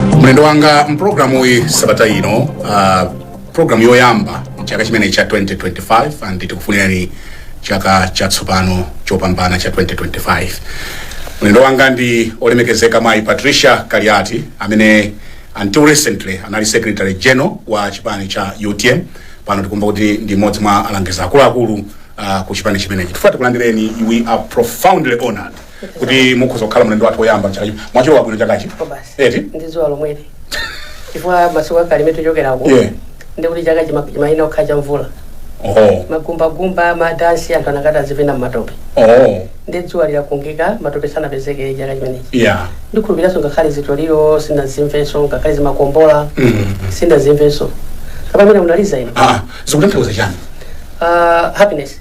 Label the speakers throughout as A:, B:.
A: mlendo wanga mpulogalamu uyi sabata ino uh, pulogalamu yoyamba mchaka chimenechi cha 2025 and tikufunirani chaka chatsopano chopambana cha 2025 mlendo wanga ndi olemekezeka mayi patricia kaliati amene until recently anali secretary general wa chipani cha utm pano tikumva kuti ndi mmodzi mwa alangizi akuluakulu uh, ku chipani chimenechi tifuna tikulandireni we are profoundly honored kuti mukhoza kukhala mlendo wathu woyamba chaka chino mwalilowa bwino chakachi Kobasi. eti ndi dzuwa
B: lomweli chifukwa masiku akale imene tichokerako Yeah. ndi kuti chaka chima- chimayina okha cha mvula oho magumbagumba madansi anthu anakati azipina mmatope oho ndi dzuwa likungika matope sanapezeke chaka chimenechi yeah ndikhulupiranso ngakhale zitoliro sindazimvenso ngakhale zimakombola Mm. sindazimvenso kapamene munaliza ino ah zikutanthauza chani
A: uh,
B: happiness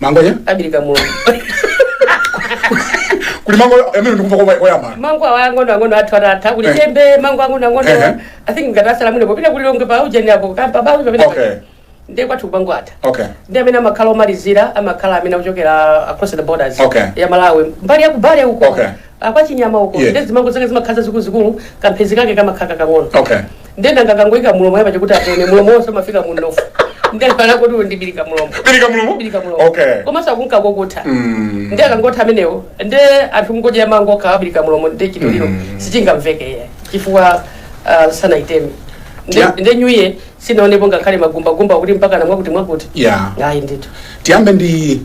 B: mango ya
A: kabirika mulomo kuli mango amene ndikumva kwa koyamba mango awa ang'ono ang'ono
B: athu atatha kuli Eh. chembe mango ang'ono ang'ono Ehe. i think ngati asala muno popita ku Lilongwe pa ujeni apo kampa bawi Okay. pamene
A: ndiye kwathu kuja
B: mango atha okay ndi amene amakhala omalizira amakhala amene akuchokera across the borders Okay. ya malawi
A: mbali
B: ya kubale uko Okay. a kwa
A: chinyama
B: uko Yes. nde zimango zake zimakhala zazikuluzikulu kamphezi kake kamakhala kakang'ono okay nde munthu
A: akangoyika
B: mulomo yapa chikuti apone mulomo wonse umafika mu mnofu nde kana kuti ndi birika mulomo Birika mulomo? Birika mulomo Okay. komanso akunka
A: kokutha
B: Mm. nde akangotha amenewo nde anthu akungodya mango a kabirika mulomo nde chitoliro sichingamveke iyayi chifukwa ah, sanayiteme Nde- Yeah. nde new year sinaonepo ngakhale magumbagumba kuti mpaka namwakuti mwakuti Yeah. ayi ndithu tiyambe ndi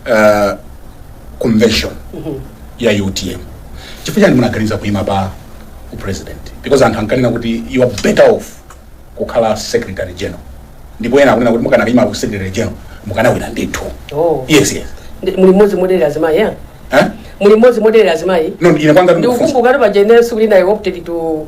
B: uh,
A: convention ya utm chifukwa chani munaganiza kuima pa u president because anthu ankanena kuti you are better off kukhala secretary general ndipo ena akunena kuti mukanakaima ku secretary general mukanawina ndithu Oh. yes yes Ndi- muli
B: mmodzi moderera azimayi ya eh? muli mmodzi moderera azimayi no ine kwanga ndikukumbukira
A: paja ine
B: siku lina i opted to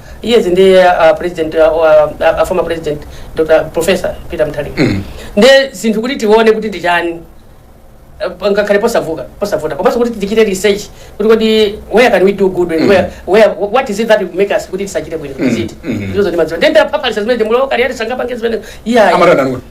B: years ndi uh, president uh, uh, former president dr professor peter mutharika mm. ndiye zinthu kuti tione kuti ndi chani uh, ngakhale posavuka posavuta komanso kuti tichite research kuti kodi where can we do good mm. where, where, what is it that will make us kuti tisachite bwino mm. ziti mm. ndizo ndimadziwa ndiye nda papalisa zimene mulomwe kaliati sangapange zimene iya Amatanda nukwe.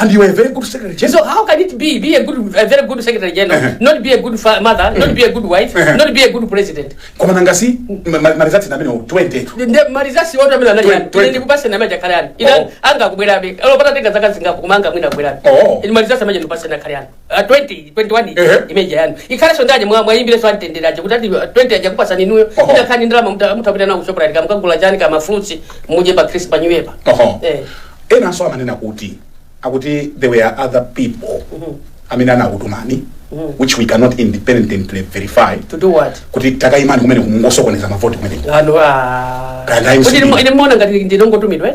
B: And you are a very good
A: secretary general. So how can it be be a
B: good, a very good secretary general, Uh-huh. not be a good fa- mother, not be a good wife, Uh-huh. not be a good president? Koma nanga si
A: ma- ma- marizati na mino 20 tu. Nde marizasi wote
B: amene anali Twe- yani. twe- Ine ndikupase na maja kale yani. Ina Oh. anga kubwerabe. Alo pata tenga zaka zingapo koma anga mwina kubwerabe. Oh. Ine marizasi amaja ndikupase na kale yani. Ah, 20, 21 ija, Ehe. image yanu ikhalenso ndani mwa- mwayimbire song antendera aja kuti ati 20 aja kupasani inuyo Oho. ija nkhani ndalama muta- mutapita nawo ku Shoprite kamukagula chani kama fruits muje pa Christmas pa New Year pa. Oho. Eh.
A: enanso amanena kuti akuti there were other people amene anakutumani which we cannot independently verify To do what? kuti
B: takayimani
A: kumeneko kumungosokoneza mavoti kumeneko Ano ah. Kaya
B: ndayimso Kuti ndine. ine mukuona ngati ndinangotumidwa eh?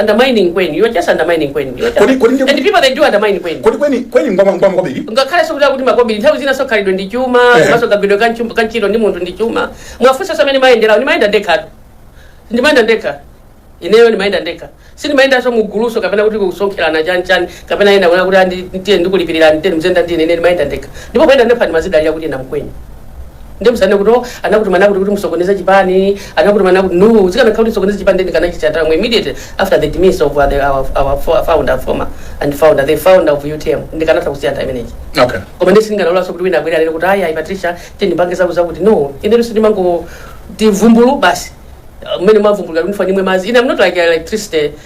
B: undermining Kweni you're just undermining Kweni You're just- Kodi- kodi ndi- and people they do undermine Kweni kodi Kweni Kweni ngwama
A: ngwamakobiri ngakhale zokuti kuti makobiri
B: nthawi zinanso khalidwe ndi chuma Eh. komanso kagwidwe ka nchum- ka ntchito ndi munthu ndi chuma mwafunsa za mmene mayendera ndimayenda ndekha ndimayenda ndekha ineyo ndimayenda ndekha sindimayendanso muguluso kapena kuti kusonkherana chanchani kapena ena kuona kuti andi- ndiye ndikulipirira ndite mzenda ndine ine ndimayenda ndekha ndipo kuyenda ndekha ndimadzidalira kuti ine mkweni Ndiye musanene kuti oh, anakutumani akuti kuti musokoneze chipani, anakutumani akuti no, zikanakhala kuti musokoneze chipani then kanachitsata mu immediately after the demise of uh, the, our, our fo- founder former and founder the founder of UTM ndikanatha kusiya nthawi imeneyi. Okay. Koma ndi
A: sindingalolenso
B: kuti wina abwere lero kuti ayi ayi Patricia tiyeni tipange zaku zakuti no, ineyo sindimangoti vumbulu basi. Uh, Mmene mwavumbulira kuti ndifanye mwe mazi. Ine I'm not like electricity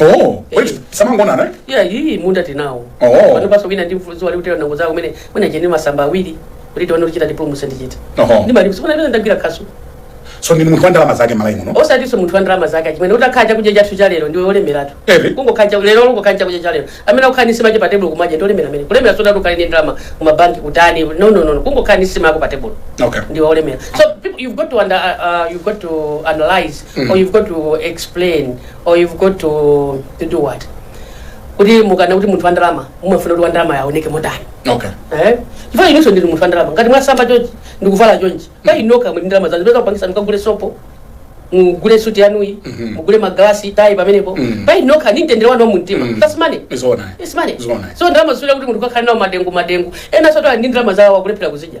B: Oh,
A: wait, samangonana eh? ya iyi munda
B: tinawo Oh. panopanso
A: wina ndi
B: mfuluzi wali kutera nango zako mene mwina chene masamba awiri kuti tione kuchita diploma sindichita Oho. ndimalimanso pena ndagwira khasu so ndine munthu
A: wa ndalama zake m'Malawi muno osatinso munthu wa ndalama zake
B: chimene utakhala chakudya chathu cha lero ndiwe olemeratu Ere. kungokhala cha- lero kungokhala chakudya cha lero amene akukhala ndi nsima che pa tebulo kumadya ndi olemera amene kulemera osati ukhale ndi ndalama kumabanki kutani no no no no. kungokhala ndi nsima yako pa tebulo okay ndiwe olemera
A: so
B: people, you've got to under, uh, uh, you've got to analyze or you've got to explain or you've got to, to do what kuti mukanena kuti munthu wandalama mumafuna kuti wandalama aoneke motani okay
A: eh chifukwa inunso
B: ndinu munthu wandalama ngati mwasamba chonchi ndikuvala chonchi pa inu nokha muli ndalama zanu peza kupangisa mukagule sopo mugule suti yanuyi mugule magalasi tayi pamenepo pa inu nokha ndi mtendere wanu wa mumtima that's money izoona Yes, money. Zona. so ndalama sizifuna kuti munthu ukakhale nawo madengu madengu enansotu ali ndi ndalama zawo akulephera kuzidya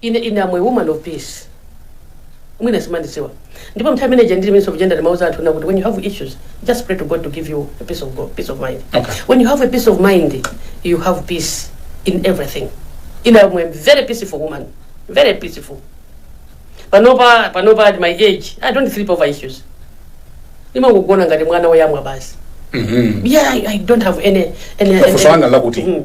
B: Ine, ine am a woman of peace mwina simandidziwa ndipo mnthawi imene ija ndili minister of gender ndimauza anthu ena kuti when you have issues just pray to God to give you a peace of, God, peace of mind Okay. when you have a peace of
A: mind
B: you have peace in everything ine am a very peaceful woman very peaceful panopa panopa at my age I don't sleep over issues ndimangogona ngati mwana woyamwa basi Mhm. yeah I, I don't have any any, any Funso langa lakuti Mm.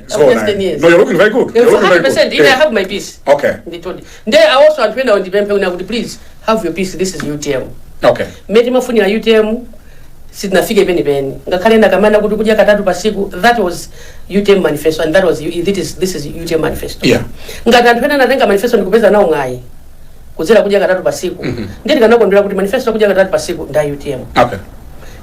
A: Zoona. just ten years. No, you're looking very good. You're looking very good. 100% even I Eh. have my peace
B: Okay.
A: nditodi nde
B: awonso anthu ena undipemphe una kuti please have your peace this is utm Okay. mmene
A: timafunira
B: utm sitinafike penipeni ngakhale ndikamanena kuti kudya katatu patsiku that was utm manifesto and that was that is, this is utm manifesto Yeah. ngati
A: anthu ena
B: anatenga manifesto ndikupeza nawo mwayi kudzera kudya katatu patsiku mm -hmm. nde tikanakondwera kuti manifesto kudya katatu patsiku nda utm Okay.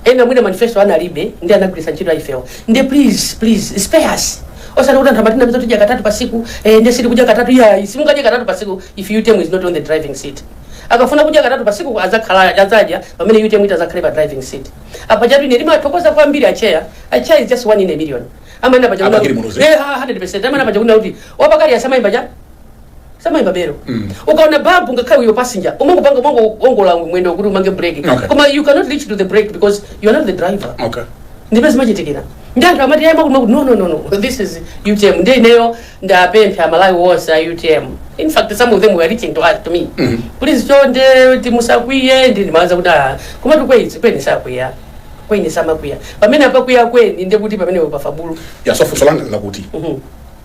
A: ena mwina
B: manifesto analibe ndi anagwiritsa ntchito ya ifeyo nde please please spare us osati kuti anthu amatinamiza tidya katatu patsiku eh, nde sitikudya katatu yayi simungadye katatu patsiku if utm is not on the driving seat akafuna kudya katatu patsiku adzakhala adzadya pamene utm itadzakhale pa driving seat apa chatu ine ndimathokoza kwambiri acheya acheya is just one in a million amene a Bakili Muluzi. apaja 100% amene apaja kuti wapakali asamayimba cha samaimba belo Mm. ukaona babu ngakhale uyo passenger umangopanga umangowongola mwendo kuti umange brake Okay. koma you cannot reach to the brake because you are not the driver okay ndipo
A: zimachitikira
B: ndiye anthu amati ayamba kuno kuti no no no no this is utm ndi ineyo ndapempha amalawi wonse a utm in fact some of them were reaching to, us- to me Mhm. please chonde timusakwiye ndi ndimawauza kuti ah koma this is kweni sakwiya kweni samakwiya pamene akakwiya kweni ndekuti pamenepo pafabulu ya so funso langa
A: lakuti Mhm.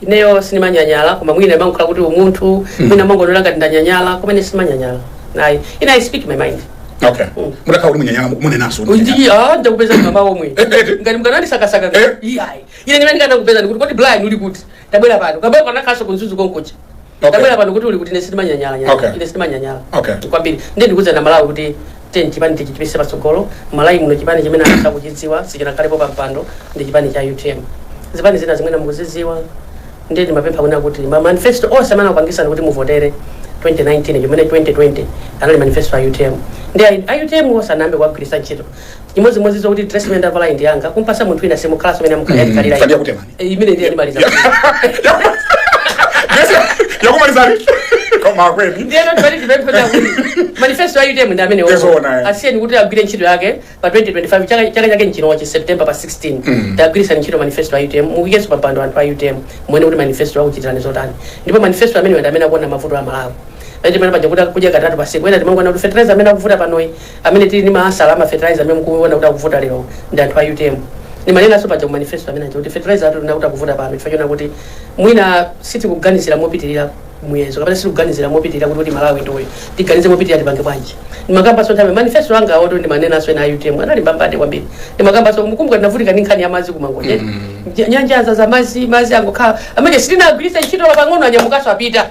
B: ineyo sindimanyanyala koma mwina imangokhala kuti umunthu mwina amangonena ngati ndanyanyala koma ine sindimanyanyala ayi ine i speak my mind okay mutakhala
A: kuti mwanyanyala munenanso ndi ah
B: ndakupezani mama omwe Eh, eh. ngati munkandisakasaka Eh. iyayi ine ndimene ndinakupeza ndikuti kodi blind uli kuti tabwera pano tabwera panakhalanso ku mzuzu konkuja Okay. ndabwera pano kuti uli kuti ine sindimanyanyala Okay. ine sindimanyanyala Okay. kwambiri
A: ndiye ndikuuza
B: amalawi kuti chipani tichipititse patsogolo malawi muno chipani chimene anthu akuchidziwa sichinakhalepo pa mpando ndi chipani cha utm zipani zina zimene mukuzidziwa ndiye ndimapempha kunena kuti ma manifesto onse amene anakupangitsani kuti muvotere 2019 ngakhale 2020 anali manifesto a utm ndi a- a utm sanayambe kuwagwiritsa ntchito chimodzimodzi zokuti dress imene ndavala ndi yanga kumpatsa munthu wina siimukhalanso mmene imukhalira Patricia kutemani. Eh,
A: ine ndiye ndimaliza yakumalizani koma akweni ndiyeno timati tipemphe
B: kuti manifesto a utm ndi amene Tizoona, eh. asiyeni kuti agwire ntchito yake pa 2025 chaka chaka chake nchinochi september pa 16 tawagwiritsani ntchito manifesto a utm muikenso pampando anthu a utm muone kuti manifesto akuchitirani zotani ndipo manifesto amene ndi amene akuwona mavuto a malawi pachimene paja kuti kudya katatu patsiku ena timangoona kuti fertilizer amene akuvuta panoyi Amene tili ndi ma answer a ma fertilizer amene mukuona kuti akuvuta lero ndi anthu a utm. Ndimanenanso paja ku manifesto amene aja kuti fertilizer wathu tinaona kuti akuvuta pano chifukwa chona kuti mwina sitikuganizira mopitilira muyezo kapena sitikuganizira mopitilira kuti kuti Malawi ndi uyu. Tiganize mopitilira tipange bwanji. Ndimakambanso nthawi manifesto anga a water ndimanenanso ena a utm anali mbambande kwambiri. Ndimakambanso mukumbuka tinavutika ndi nkhani ya madzi ku Mangochi. Nyanja za madzi madzi angokhala amene sitinagwiritse ntchito pang'ono anyamukanso apita.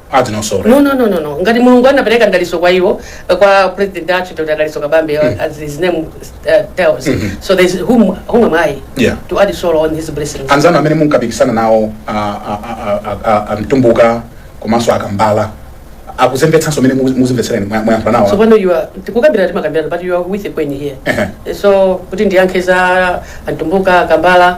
B: Add no sorry. no
A: no no no no ngati
B: mulungu anapereka mdalitso kwa iwo eh, kwa president athu dr dalitso kabambe uh, as his name uh, tells so there's whom, whom am i Yeah. to add sorrow on his blessings anzanu amene munkapikisana
A: nawo a- a- a- a- a- amtumbuka komanso akambala akuzembetsanso mmene muku- muzimvetserani mwa- mwayankhula nawo tsopano iya tikukambirana
B: timakambirana but you are with akweni here Ehe. so kuti ndiyankhe za amtumbuka kambala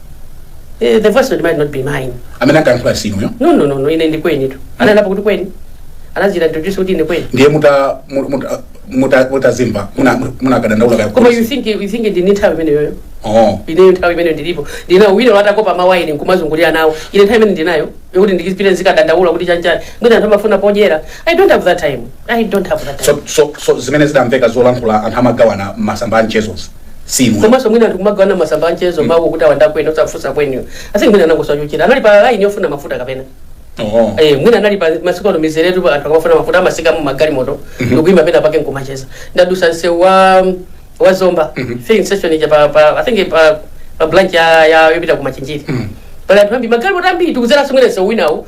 B: Eh, the voice note might not be mine amene ankayankhula si
A: inuyo no no no no ine ndi
B: kweni tu ananenapo kuti kweni anadzi introduce kuti ine kweni ndiye muta- mu- muta-
A: muta- mutazimva muna- munakadandaula kaya koma you think you
B: think ndili ndi nthawi imeneyoyo Oh. ineyo nthawi imene ndilipo ndinayo wina watakopa mawaya nkumazungulira nawo ine nthawi imene ndinayo yokuti ndizipita nzikadandaula kuti chanchani mwina anthu amafuna podyera i don't have that time I don't have that so, time.
A: so, so zimene zidamveka zolankhula anthu amagawana m'masamba a mchezozi si inu komanso mwina
B: ndikumagawana m'masamba a mchezo mawu kuti awanda kwene osafunsa kweniko kaya mwina anangosachuchira anali pa laini yofuna mafuta kapena Oho. Eh, mwina anali pa masiku ano mizeretu anthu akamafuna mafuta amatsika mu magalimoto ndikuima penapake nkumacheza ndadutsa msewu wa wa zomba filling station ija pa, pa i think pa, pa branch ya, ya yopita ku machinjiri pali anthu ambiri magalimoto ambiri tidzadzera mwina msewu winawu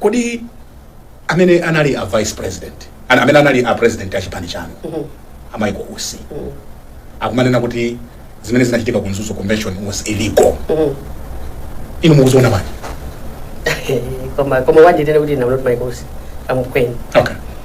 A: kodi amene anali a vice president ana- amene anali a president a chipani chanu a michael usi akumanena kuti zimene zinachitika ku mzuzu convention was illegal inu mukuziona bwanji koma koma
B: wanditenga kuti I'm not my boss I'm okay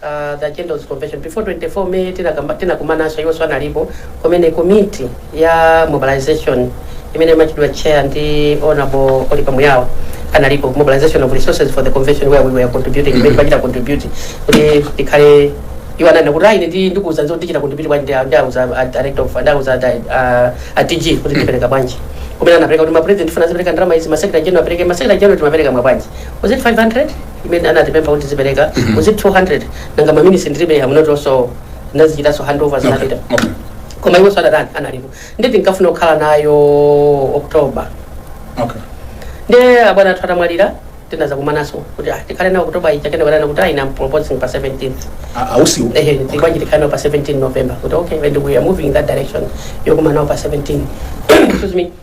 B: the agenda was convention before 24 may tinakamba- tinakumananso iwonso analipo kumene komiti ya mobilization imene imachitidwa chair ndi honorable olipa muyaba iwo analipo mobilization of resources for the convention where we were contributing imene timachita contribute kuti tikhale iwo ananena kuti ayi ndi ndikuuzanso tichita contribute bwanji ndi a- ndiwauza a director of ndiwauza a dg kuti tipereka bwanji kumene anapereka kuti ma president ofuna azipereka ndalama izi ma secretary general apereke ma secretary general timapereka ma bwanji was it 500 imene anatipempha kuti tizipereka was it 200 nanga ma minutes ndilibe I have not also ndinazichitanso handover zinapita Okay. Okay. koma iwo sadakane analipo ndi tinkafuna kukhala nayo oktoba Okay. nde abwana athu atamwalira tinadzakumananso kuti ah, tikhale nayo oktoba ija kenako anati kuti ayi I'm proposing pa 17th Ah, a usiwo. ehe bwanji tikhale nayo pa 17 november kuti okay and we are moving in that direction yokumana pa 17 excuse me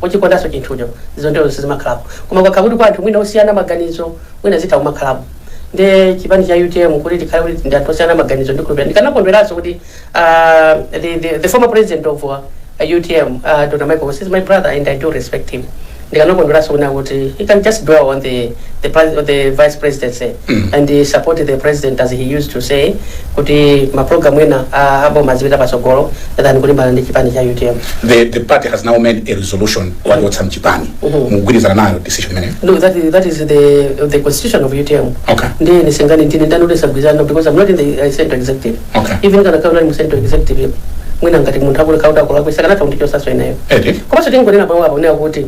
B: kuchikondanso chinthucho zoterozo sizimakhalapo koma kukakhala kuti kwa anthu mwina osiyana maganizo mwina zitha kumakhalapo nde chipani cha utm kuti tikhale kuti ndi anthu osiyana maganizo ndikukhulupirira ndikanakondweranso kuti ah, the, the, the former president of uh, utm uh, dr michael Usi is my brother and i do respect him ndikanakondweranso kunena kuti he can just dwell on the, the, pres- the vice presidency and support the president as he used to say kuti ma program ena a a boma azipita patsogolo than kulimbana ndi chipani cha utm the, the party has
A: now made a resolution awachotsa mchipani Mhm. mugwirizana nayo decision imeneyo no that is, that is
B: the, the constitution of utm okay ndi sindinganene ndine ndani wosagwirizana because i'm not in the uh, central executive okay even kukanakhala kuti ndinali mu central executive mwina ngati munthu akuti akulakwitsa akanatha kundichotsanso ineyo eti komanso tingonena pamenepo nde akuti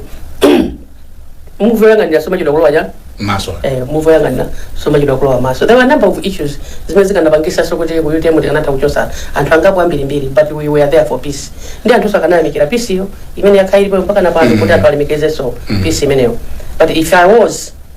B: muvi woyang'anira sumachedwa kulowa m'maso
A: eh, muvi woyang'anira
B: sumachedwa kulowa m'maso there were a number of issues zimene zikanapangitsanso kuti ku utm tikanatha kuchotsa anthu angapo ambirimbiri but we were there for peace ndi anthu sakanayamikira peace iyo imene yakhala ilipo mpaka napano kuti anthu alemekezenso peace imeneyo but if i was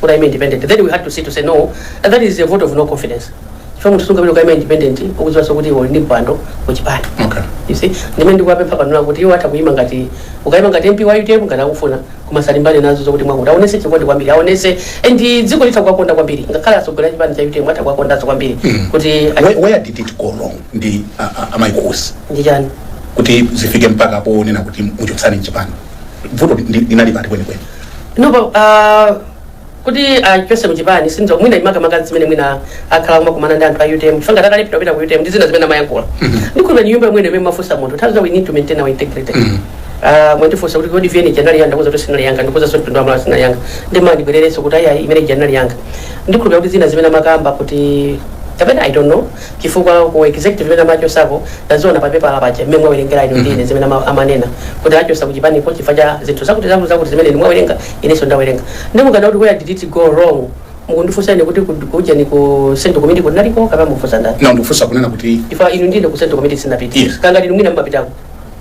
B: kukaima independent then we had to see to say no that is a vote of no confidence chifukwa munthu sungapita kukaima independent ukudziwanso kuti uli ndi mpando kuchipani Okay. you see ndi amene ndikuwapempha panopa kuti iwo atha kuima ngati kukaima ngati mp wa utm ngati akufuna koma asalimbane nazo zokuti mwakuti aonese chikondi kwambiri aonese and dziko litha kuwakonda kwambiri ngakhale atsogoleri chipani cha utm atha kuwakondanso kwambiri kuti Where,
A: where did it go wrong ndi a- a- amaikosi ndi chani
B: kuti zifike
A: mpaka ponena kuti muchotseni mchipani vuto ndi- linali pati kwenikweni nopo
B: uh, kuti achipese kuchipani sindidziwa mwina makamaka zimene mwina akhala kumakumana ndi anthu a utm chifukwa takalephera kupita ku utm ndi zina zimene amayankhula ndikukhulupirira ni nyumba imwene imene amafunsa munthu nthawi zina we need to maintain our integrity Ah, mwandifunsa kuti kodi vn ija inali yanga ndikuuza kuti sinali yanga ndikuuzanso mtundu wa amalawi sinali yanga ndimani ndibwererenso kuti ayi ayi imene ija inali yanga ndikukhulupirira kuti zina zimene amakamba kuti kapena i don't know chifukwa ku executive imene amachotsako ndaziona pa pepala paja mmene mwawerengera inu ndine zimene ama- amanena kuti achotsa ku chipaniko chifukwa cha zinthu zakuti zakuti zakuti zimene inu mwawerenga inenso ndawerenga nde mukanena kuti where did it go wrong mukundifunsa ine kuti ku- kujeni ku central committee kunaliko kapena mukufunsa ndani na ndikufunsa kunena kuti
A: chifukwa inu ndi ine ku central
B: committee sindinapita Yes. kaya ndinu mwina mumapitako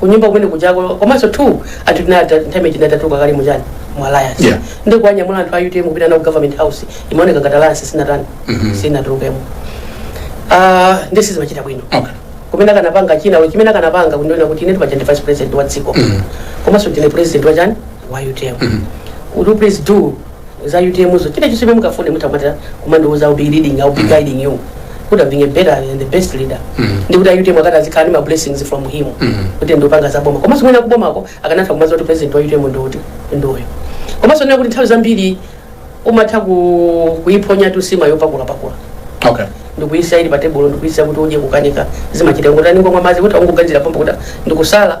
B: kunyumba kumene kujako komanso two anthu tinati nthawi imene tinatatuka kale muchani mu alliance Yeah. ndi kuwanyamula anthu a utm kupita nawo ku government house imaoneka ngati alliance sinatani sinatulukemo Ah, ndi sizimachitika bwino Okay. kumene akanapanga china chimene akanapanga kundiona kuti ine ndapatsidwa vice president wa dziko komanso ndine president wa chani wa utm would you please do za utm so chilichonse chimene mungafune mutha kumatha kumandiuza I'll be leading I'll be guiding you kuti I'm being a better and the best leader ndi kuti utm akanati azikhala ndi ma blessings from him kuti ndikupanga za boma komanso mwina kubomako akanatha kumadziwa kuti president wa utm ndi uti ndi uyo komanso nena kuti nthawi zambiri umatha ku- kuiphonya tu nsima yopakula-pakula okay ndikuyitsa ili patebulo ndikuyisa kuti udye kukanika zimachita ngotani ungomwa madzi kuti aungoganizira pompo kuti ndikusala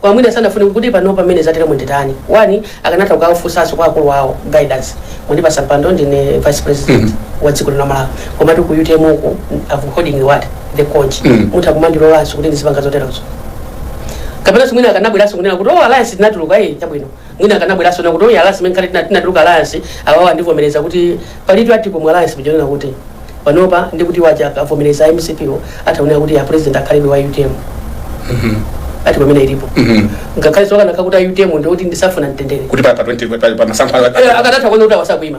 B: koma mwina sanafune kuti pano pamene zateremu nditani one akanatha kukawafunsanso kwa akulu awo guidance mwandipatsa mpando ndine vice president wa dziko lino la malawi komatu ku utm uku I'm holding what the coach Mm. mutha kumandilolanso kuti ndizipanga zoterozo kapena mwina akanabweranso kunena kuti oh alliance tinatuluka iye chabwino mwina akanabweranso kunena kuti oh alliance imene kale tinatuluka alliance awawa andivomereza kuti palitu article mu alliance muja yonena kuti panopa ndi kuti waja avomereza a mcp wo ataonera kuti a president akhalebe wa utm article imene ilipo ngakhale sakanakhala kuti a utm ndikuti sitifuna mtendere kuti pa pa 20 pa-
A: pa masankho a- Eh, akadatha kuona kuti
B: awasakuima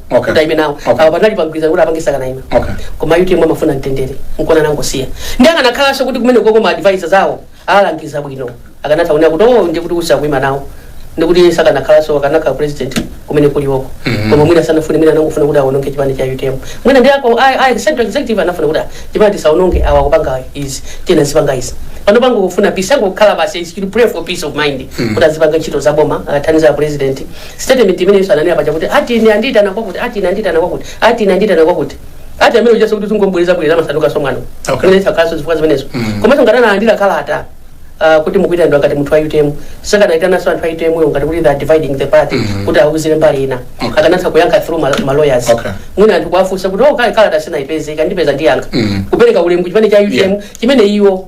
B: Okay. kuti ayime nawo Okay. awo anali pamgwirizano kuti apange sakanayima Okay. koma utm amafuna mtendere nkona anangosiya ndi akanakhalanso kuti kumene koko ma advisors awo awalangiza bwino akanatha kunena kuti oh ndikuti usa kuima nawo ndikuti sakanakhalanso akanakhala president kumene kulioko koma mwina sanafune mwina anangofuna kuti awononge chipani cha utm mwina ndi ako a- a- central executive anafuna kuti ah, chipani tisaononge awa kupanga izi tiyeni azipanga izi panopa ngati akufuna peace angokhala basi is to pray for peace of mind kuti azipanga ntchito za boma athandize a president statement imene iwo ananena paja kuti ati ine andiyitana kwakuti ati ine andiyitana kwakuti ati ine andiyitana kwakuti ati amene uja sikuti zingomubwereza bwereza masanduka somwano Okay. imene sakhalanso zifukwa zimenezo komanso ngati analandira kalata ah, kuti mukuyitanidwa ngati munthu wa utm sakanayitananso anthu a utm yo ngati kuti they are dividing the party kuti awuzidwe mbali ina Okay. akanatha kuyankha through ma- ma lawyers Okay. mwina anthu kuwafunsa kuti oh kalata sinayipeze ikandipeza ndiyankha kupereka ulemu chipani cha utm Yeah. chimene iwo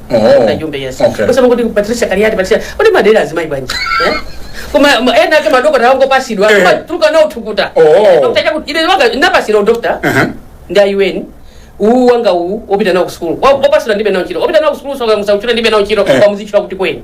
B: Oh, Jumbe yes okay. kusema kuti patricia kaliati patricia kuti mumadera azimayi bwanji eh? koma ma- enaake madokotala angopasidwa Eh. tuka nawo tukuta Oh. Dr. Chaku- ine wanga ndapasidwa udokta Aha. ndi a un uwu wanga uwu opita nawo kusukulu opasidwa ndilibe nawo ntchito opita nawo kusukulu soka musauchira ndilibe nawo ntchito Eh. pamuzichita kuti kweni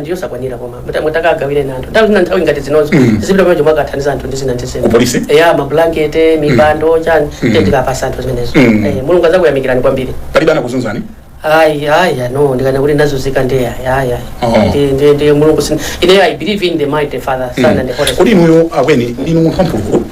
B: ndi
A: yosakwanira
B: koma muta- mutakagawirako anthu nthawi zina nthawi ngati zinozo zipita pamene chomwe akathandiza anthu ndi zina ndi zina Kupolisi? eya mablankete mipando chani ndikapasa anthu zimenezo Mm. Eh, mulungu azakuyamikirani kwambiri palibe
A: anakuzunzani ayi
B: ayi no ndikana kuti ndazunzika ndi ayi ayi Oh. ayi Ndi- ndi- ndi mulungu sin- ine i believe in the mighty father son and the holy Spirit. kodi inuyo akweni
A: ndinu munthu wampulukulu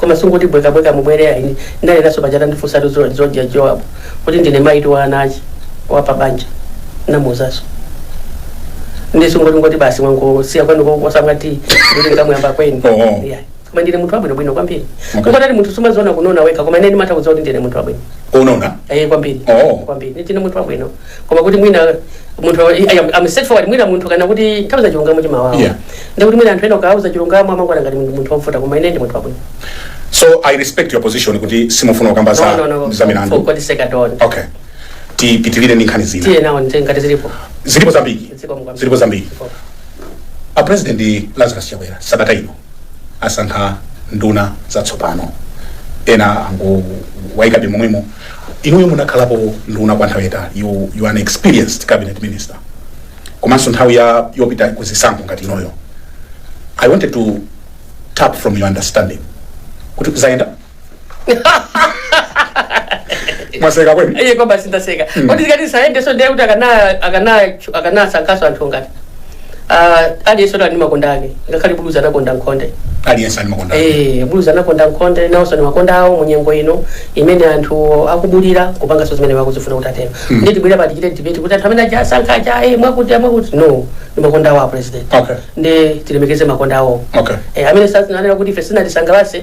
B: koma sungoti bwekabweka mubwere ayi ndanenaso paja atandifunsatu zoja Joab kuti ndine mayitu wa ana komanso wapa banja namuuzaso ndisungoti ngoti basi mwangosiya kwanu kosangati kuti ngamuyamba kweni Oh. Yeah. koma ndine munthu wabwino bwino kwambiri Okay. kungoti munthu sumaziona kununa wekha koma ine ndimatha kudziwa kuti ndine munthu wabwino unona Eh,
A: kwambiri Oh.
B: kwambiri ndine munthu wabwino koma kuti mwina munthu I'm straightforward mwina munthu kaya kuti nthawi zina chilungamo chimawawa Yeah. nde kuti mwina anthu ena ukawauza chilungamo amakuona ngati munthu munthu wovuta koma ine ndi munthu wabwino so i
A: respect your position kuti simufuna kukamba No, no, za milandu for God sake at all.
B: okay
A: tipitirire ndi nkhani zina tiye nawo nte- ngati
B: zilipo zilipo
A: zambiri Zikomo kwambiri. zilipo zambiri Ziko. a president lazarus chakwera sabata ino asankha nduna zatsopano ena angowaikabe momwemo Inuyo munakhalapo nduna kwa nthawi yaitali, you, you are an experienced cabinet minister. Komanso nthawi ya yopita ku zisankho ngati inoyo. I wanted to tap from your understanding. Kuti zizayenda? Mwaseka Akweni? iye kwabasi ndaseka
B: kuti zikati sayendeso ndiye kuti akana akana akanasankhaso anthu ngati Ah, aliyense ali ndi makonda ake ngakhale buluzi anakonda nkhonde
A: aliyense ali makonda Eh, buluzi anakonda
B: nkhonde nawonso ni makonda awo mu nyengo ino imene anthu akubulira kupanganso zimene akuzifuna kuti atero ndi tibwera pa tichitire debate kuti anthu amene aja asankha aja eh, mwakuti mwakuti no ni makonda awo a president Okay. ndi tilemekeze makonda awo Okay. eh, amene sananena kuti ife sinatisangalatse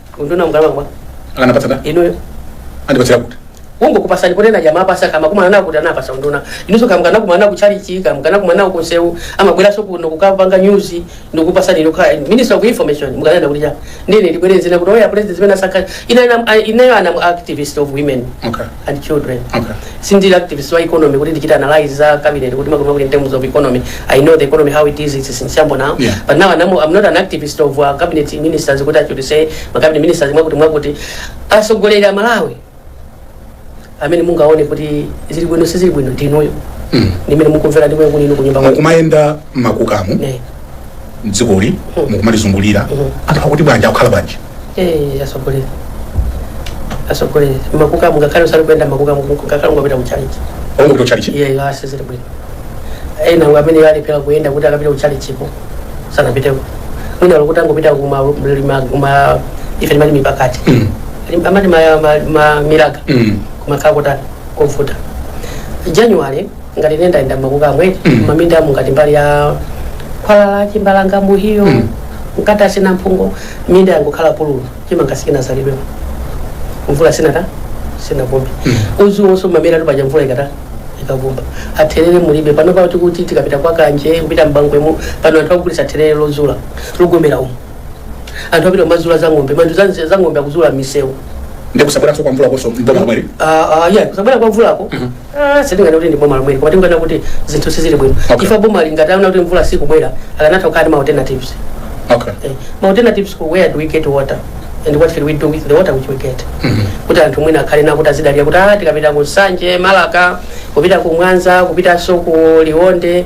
B: unduna ungalakwa akanapatsa ndani inuyo andipatsa
A: kuti ungokupasani
B: potena jamaa pasa kama kumana nawo kuti anapasa unduna inuso kama kana kumana nawo kuchalichi kama kana kumana nawo kunsewu amabweranso kuno kukapanga news ndikupasani nokhala minister of information mukanena kuti cha ndine ndibwereze nakuti oya president zimene asakha inayo a ma activist of women okay and children. Okay. Sindili activist wa economy kuti ndichite analyze za cabinet kuti makono kuti in terms of economy. I know the economy how it is it's in shambles now. Yeah. But now I'm, I'm not an activist of uh, cabinet ministers kuti actually say ma cabinet ministers mwakuti mwakuti atsogoleri a Malawi amene mungaone kuti zili bwino si zili bwino ndinuyo. Mm. Ndi amene mukumvera ndi amene kunoko kunyumba kwanu. mukumayenda
A: mmakukamu Ne. mdzikoli mukumalizungulira anthu akuti bwanji akukhala bwanji Eh, asogolera asogolera makukamu
B: ngakhale usati kuyenda makukamu ngakhale ungapita kuchalichi Ongo to chalichi. iye iwo sizili bwino ena ngo amene alephera kuyenda kuti akapita kuchalichiko sanapiteko mwina loti angopita kuma ma- kuma ife timati mipakati Mm. Lim- amati ma- ma- ma- miraga Mm. kumakhala kutali kovuta january ngati ine ndayenda mmakuka a mwene mminda amu ngati mbali ya khwalala chimbalanga muhiyo mkati asina mphungo minda yangokhala pululu chimanga sichinazalidwemo mvula sinata sinavumbi udzu wonse umamera tupaja mvula ikata ikavumba therere mulibe pano pao tikuti tikapita kwa kanje kupita mbangwemo pano anthu akugulisa therere lozula logomera umu anthu apita kumazula za ng'ombe manthu za- za ng'ombe akuzula misewu ndikusabweranso kwa
A: mvulakoso mboma lomweli Ah, ah, yeah, kusabwera kwa
B: mvulako Ah, sindingati kuti ndi boma lomweli koma tingoona kuti zinthu sizili bwino Okay. ife bomali ngati aona kuti mvula sikubwera akanatha kukhala ndi ma alternatives okay Eh, ma alternatives kuti where do we get water and what can we do with the water which we get kuti anthu mwina akhale nawo kuti azidalira kuti ah tikapita ku nsanje marka kupita ku mwanza kupitanso ku liwonde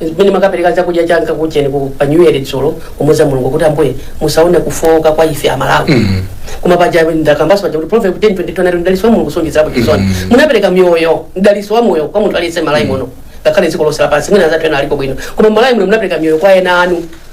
B: Mmene mwakapereka chakujeni cha nkakujeni ku pa New Year dzulo kumuza Mulungu kuti ambuye musaone kufowoka kwa ife Amalawi. Koma paja ndakambaso paja kuti Proverb 10:22 anati mdaliso wa Mulungu suonjezerapo chisoni. Munapereka miyoyo, mdaliso wa moyo kwa munthu aliyense Malawi muno. Ngakhale dziko lonse lapansi mwina anzathu ena alipo bwino. Koma Malawi muno munapereka miyoyo kwa ana anu.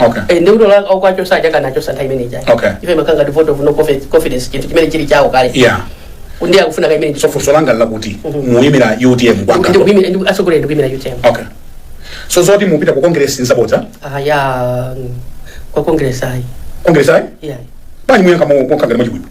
B: okay Eh, ndi kuti ola- okwacho sadyakana achosa nthawi imene ijayi Okay. ife makanga ndi vote of no confi- confidence chinthu chimene chili chawo kale yeah ndiye akufuna ka imene so funso langa lakuti
A: Mhm. muyimira utm kwanga asogoleri
B: ndikuimira utm okay
A: so zoti mupita ku congress nsabodza aya
B: ku congress ayi congress ayi yeah
A: bwanji muyankha mokangana mwachibwibwi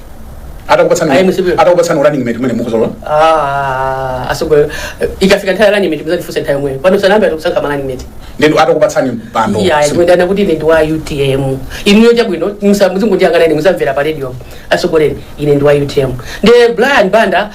B: atakupatsani Ayi, musibe.
A: atakupatsani running mate mwene mukuzalola
B: Ah, asogoleri ikafika nthawi running mate muzandifunse nthawi yomweyo pano sanayambe atikusankha ma running mate ndinu
A: atakupatsani mpando iya Simu- ndikunena kuti ine
B: ndi wa utm inuyo chabwino muzingondiyang'ana ine muzamvera pa radio asogoleri ine ndi wa utm ndi brian banda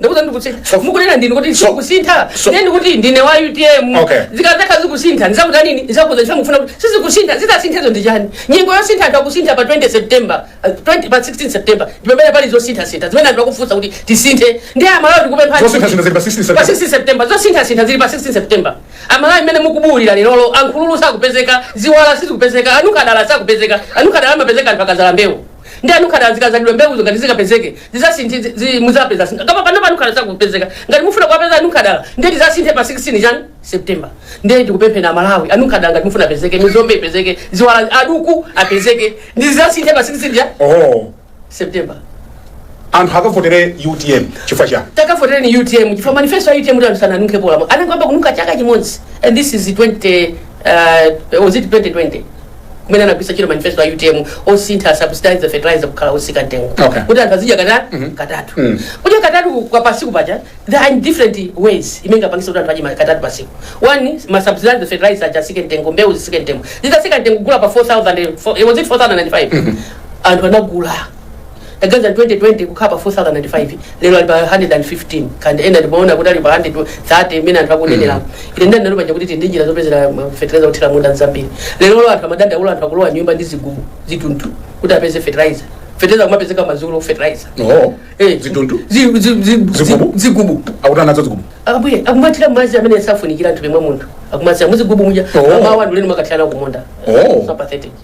B: ndakuuzani sindikusintha So- mukunena ndinu kuti so- ndikusintha so- ndiye ndikuti ndine wa utm Okay. zikazakhala zikusintha ndizakutani ndizakuuza chifukwa mufuna kuti sizikusintha zitasinthazo ndi chani nyengo yosintha anthu akusintha pa 20 september uh, 20 pa 16 september ndipamene pali zosinthasintha zimene anthu akufunsa kuti tisinthe ndiye amalawi tikupempha Zosinthasintha zili pa 16
A: September. pa 16
B: september zosinthasintha zili pa 16 september amalawi mmene mukubuwulira lerolo nkhululu sakupezeka ziwala sizikupezeka anunkhadala sakupezeka anunkhadala amapezeka anthu akazala mbewu ndi anunkhadala zikazalidwa mbewuzo ngati zikapezeke zizasinthe zi- zi- muzapeza sintha koma pano anunkhadala sakupezeka ngati mufuna kuwapeza anunkhadala ndiye tizasinthe pa 16 chani september ndiye ndikupemphera amalawi anunkhadala ngati mufuna apezeke mizombe ipezeke ziwala aduku apezeke tizasinthe pa 16 chani oh
A: september anthu akavotere utm chifukwa chani takavotera ni utm
B: chifukwa manifesto ya utm kuti anthu sananunkhe polamo anangoyamba kununkha chaka chimodzi and this is 20 uh, was it 2020 kumene anagwisa ntchito manifesto ya utm osintha subsidize fertilizer kukhala osika mtengo Okay. kuti anthu azidya kata katatu kudya katatu kwa pasiku paja there are different ways imene ingapangisa kuti anthu adye ma- katatu pasiku one masubsidize fertilizer aja asike mtengo mbewu zisike mtengo zidasika mtengo kugula pa 4000 eh, was it 4005 anthu anagula Taganizani 2020 kukhala pa 4005 lero ali pa 115 koma ena ndimaona kuti ali pa 130 imene anthu akunenera ine ndana nalo paja kuti tili ndi njira zopezera ma- fertilizer wothira munda zambiri lerolo anthu amadandaula anthu akulowa nyumba ndi zigubu zithundu kuti apeze fertilizer fertilizer kumapezeka madzulo fertilizer no Eh,
A: zithundu zi- zi- zi- zi-
B: Zigubu? zigubu akuti anazo
A: zigubu abwere akumathira madzi
B: amene safunikira anthu pomwe munthu akumathira muzigubu muja Oh. mmawa nkumakathira kumunda Oh. It's not pathetic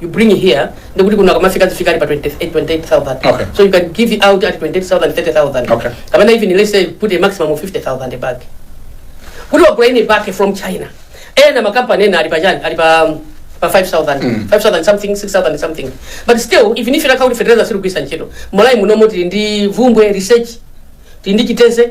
B: you bring it here ndi kuti kuno akamafika azifika ali pa 20 eh, 28000 Okay. so you can give it out at 28000 30000 Okay. I mean even let's say put a maximum of 50000 bag kuti wa bring it back from china ena makampani ena ali pa chani ali pa um, pa 5000 5000 something 6000 something but still even if you account fertilizer sitikugwisa ntchito malawi muno moti ndi bvumbwe research tili ndi chitedze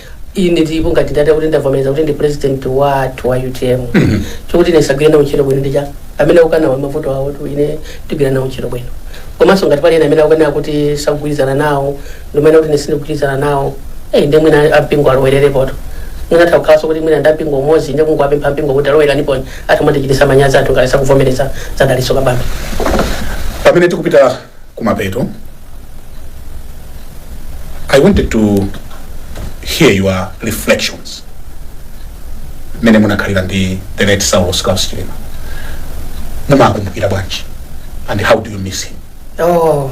A: ine ndipo
B: ngati ndati kuti ndavomereza kuti ndi president wathu wa utm chokuti ine ndizagwira nawo ntchito bwino ndija amene akukanawo mavuto awo koma ine ndigwira nawo ntchito bwino komanso ngati pali ena amene akukana kuti sakugwirizana nawo ndinene kuti ine sindikugwirizana nawo eyi ndi mwina ampingo alowererepoto mwina atha kukhalanso kuti mwina ndampingo umodzi ndi kungowapempha mpingo kuti alowerenipo anthu amatichitisa manyazi anthu ngati sakuvomereza za dalitso kabambe
A: pamene tikupita kumapeto i wanted to hear your reflections mmene munakhalira ndi the late saulos klaus chilima mumakumbukira bwanji and how do you miss him Oh,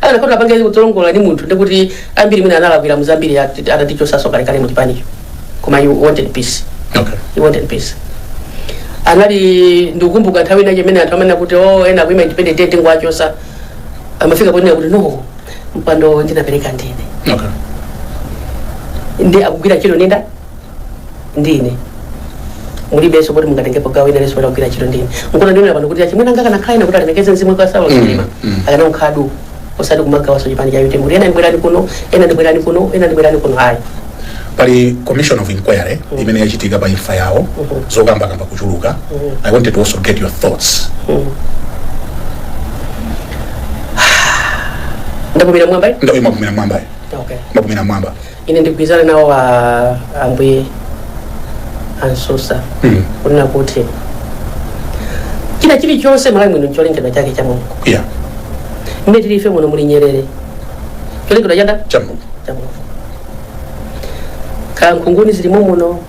A: akanakhoza apange zolongosoka ndi munthu ndikuti ambiri mwina anamulakwira muzambiri atatichosanso kalekale mu chipanicho koma he wanted peace Okay. he wanted peace anali ndikukumbuka nthawi inayake imene anthu amanena kuti o ena akuima independent day tingowachosa amafika ponena kuti no mpando ndinapereka ndine Okay. ndi akugwira ntchito ninda ndine mulibenso kuti mungatengepo gawo ina lililonse la kugwira ntchito ndine nkuona ndinena pano kuti achimwene anga akanakhala ena kuti alemekeze mzimu wa saulo chilima akanangokhala duu osati kumagawanso chipani cha utm kuti ena ndibwerani kuno ena ndibwerani kuno ena ndibwerani kuno ayi pali commission of inquiry imene yachitika pa imfa yawo zokambakamba kuchuluka i wanted to also get your thoughts ndapumira mmwamba ayi nduna imapumira mmwambayo okay mwapumira mmwamba ine ndigwirizane nawo ambuye a msusa Mm. kunena kuti china chilichonse mmalawi muno cholengedwa chake cha mulungu yeah mmene tili ife muno muli nyerere cholengedwa cha nda cha mulungu cha mulungu kaya nkhunguni zilimo muno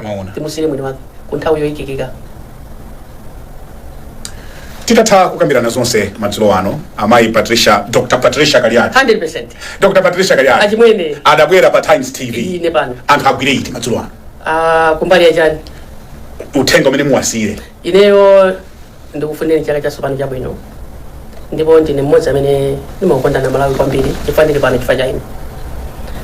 B: amaona
A: timusiyire mwini
B: wake mu nthawi
A: yoyikika titatha kukambirana zonse madzulo ano amayi patricia dr patricia kaliati 100
B: dr
A: patricia kaliati achimwene adabwera
B: pa
A: times tv ine pano anthu
B: agwire iti
A: madzulo ano ah, kumbali ya chani
B: uthenga
A: umene muwasiyire ineyo
B: Ndikufunireni chaka chatsopano chabwino ndipo ndine mmodzi amene ndimakukondani amalawi kwambiri chifukwa ndili pano chifukwa cha inu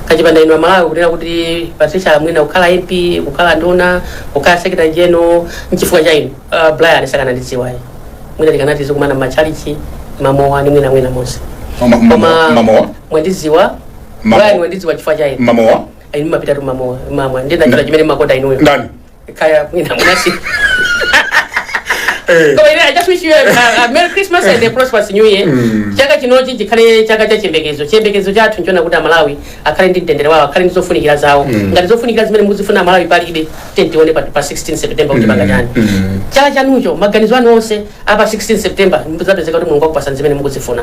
B: kuchipanda inu amalawi kunena kuti patricia mwina kukhala mp kukhala nduna kukhala secretary general nchifukwa cha inu uh, brian sakanandidziwa ayi mwina tikanatha tizikumana mmachalichi mmamowa ndi mwina mwina monse Mama- mama- Koma mmamowa?
A: mwandidziwa
B: Mama- brian mwandidziwa chifukwa cha inu mmamowa inu mumapitatu
A: mmamowa
B: mumamwa ndiye ndachita chimene mumakonda inuyo ndani
A: kaya
B: mwina munasiya Eh. Koma ine, I just wish you a, a, a Merry Christmas and a prosperous New Year. Mm. Chaka chinochi chikhale chaka cha chiyembekezo. Chiyembekezo chathu nchonena kuti Amalawi akhale ndi mtendere wawo, akhale ndi zofunikira zawo. Mm. Ngati zofunikira zimene mukuzifuna Amalawi palibe, tiyeni tione pa, pa 16 September kuti Mm. tipanga chani. Mm. Chaka chanucho, maganizo anu onse a pa 16 september mukazapezeka kuti mulungu akupasani zimene mukuzifuna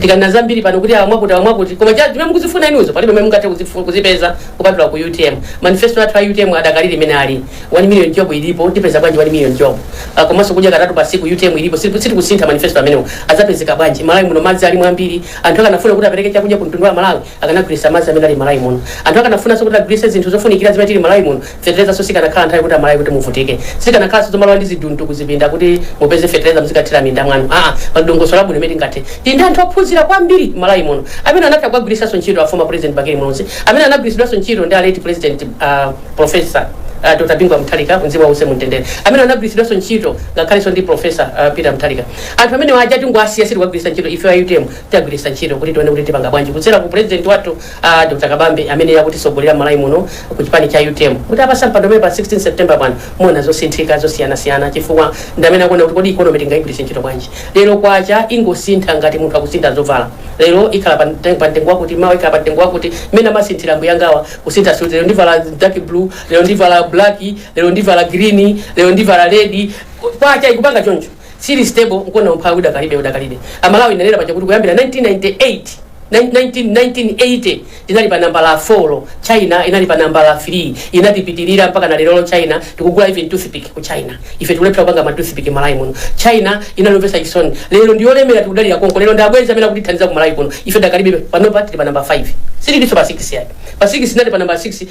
B: tikanenena zambiri pano kuti awa mwakuti awa mwakuti koma cha zimene mukuzifuna inuzo palibe mmene mungathe kuzifu- kuzipeza kupatula ku utm manifesto athu a utm adakalipo imene ali 1 million job ilipo tipeza bwanji 1 million job Ah, komanso kudya katatu pa siku utm ilipo Siti- sitikusintha manifesto amenewo azapezeka bwanji malawi muno madzi alimo ambiri anthu akanafuna kuti apereke chakudya ku mtundu wa malawi akanagwirisa madzi amene ali malawi muno anthu akanafunanso kuti agwirise zinthu zofunikira zimene tili malawi muno Feterezaso sikanakhala nthawi kuti amalawi kuti muvutike sizikanakhalanso zomalawa ndi zidindo kuzidinda kuti mupeze fetereza muzikathira mminda mwanu aa pali dongosolo labwino limene tingathe tili ndi anthu ophunzira kwambiri mmalawi muno amene anatha kuwagwiritsanso ntchito a former president bakili muluzi amene anagwiritsidwanso ntchito ndi a late president a professor a Dr bingu wa mutharika mzimu wawo uuse mumtendere amene anagwiritsidwanso ntchito ngakhalenso ndi professor a peter mutharika anthu amenewa aja tangowasiya sitikuwagwiritsa ntchito ife a utm tiwagwiritsa ntchito kuti tione kuti tipanga bwanji kudzera ku president wathu A Dr Kabambe amene akutisogolera Malawi muno ku chipani cha utm mutawapasa mpando umenewu pa 16 September pano muona zosinthika zosiyanasiyana chifukwa ndi amene akuona kuti kodi economy tingaigwiritse ntchito bwanji. Lero kwacha ingosintha ngati munthu akusintha zovala. Lero ikhala pa mte- pa mtengo wakuti mawa ikhala pa mtengo wakuti mmene amasinthira ambuyangawa kusintha suti lero ndivala dark blue lero ndivala black lero ndivala green lero ndivala red kwacha ikupanga choncho. Sili stable nkuona umphawi udakalibe udakalibe. Malawi nanena paja kuti kuyambira 1998 nine- 19 1980 inali pa nambala 4 china inali pa nambala 3 inatipitirira mpaka na lerolo china tikugula even toothpick ku china ife tikulephera kupanga ma toothpick malawi muno china inali yomvetsa chisoni lero ndiyolemera tikudalira konko lero ndi abwenzi amene akutithandiza ku malawi kuno ife dakalibe panopa tili pa namba 5 sililinso pa 6 yake pa 6 inali pa namba 6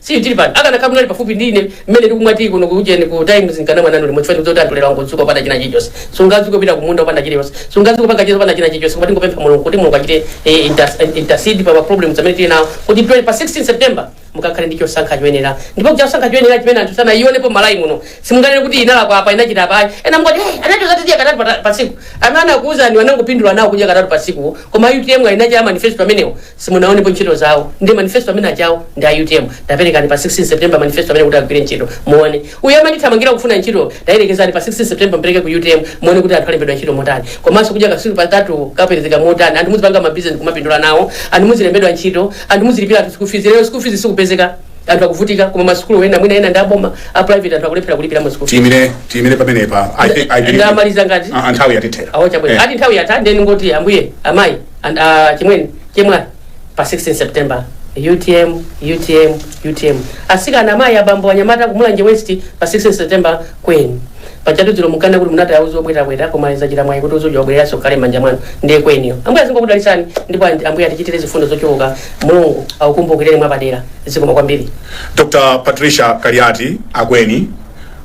B: Si tili pano akanakhala munali pafupi ndi ine mmene ndikumwa tea kuno ku ujeni ku times nkanamwa nanu limodzi chifukwa ndikudziwa kuti anthu lero angodzuka opanda china chilichonse sungadzuke kupita kumunda opanda chilichonse sungadzuke kupanga cheza opanda china chilichonse koma tingopempha mulungu kuti mulungu achite eh, inter- eh, intercede pa ma problems amene tili nawo kuti twe- pa 16 september mukakhale ndi chosankha choyenera ndipo chosankha choyenera chimene anthu sanayionepo malawi muno simunganene kuti inalakwa apa inachita apa ayi ena mungoti hey, anatcha zakudya katatu pa- pa tsiku amene anakuwuzani wanangopindula nawo kudya katatu pa tsiku koma utm alinacha manifesto amenewo Simunaonepo ntchito zawo ndi manifesto amenewa chawo ndi a utm taperekani pa 16 September manifesto amene kuti agwire ntchito muone. Uyo amathamangira kufuna ntchito tayerekezani pa 16 September mupereke ku utm muone kuti anthu alembedwa ntchito motani. Komanso kudya katsiku patatu kapezeka motani anthu muzipanga ma business nkumapindula nawo anthu muzilembedwa ntchito anthu muzilipira anthu school fees lero school fees sikupezeka anthu akuvutika koma ma sukulu ena mwina ena ndi aboma a private anthu akulephera kulipira ma school fees. tiyimire tiyimire pamenepa
A: i think i believe Ndamaliza ngati? Ah, ah,
B: nthawi yatithera awo
A: chabwino Eh. ati nthawi yatha
B: ndeni ngoti ambuye amayi And uh, chimwene chemwali pa 16 September UTM UTM UTM asikana amayi abambo anyamata kumulanje west pa 16 September Akweni pachatu dzilo mukana kuti munati auzi obwetabweta koma izachita mwayi kuti uzoja obwereranso kale manja mwanu ndiye Akweniyo ambuye azingokudalisani ndipo andi- ambuye atichitire zifundo zochuluka mulungu akukumbukireni mwapadera zikomo kwambiri Dr. Patricia
A: Kaliati Akweni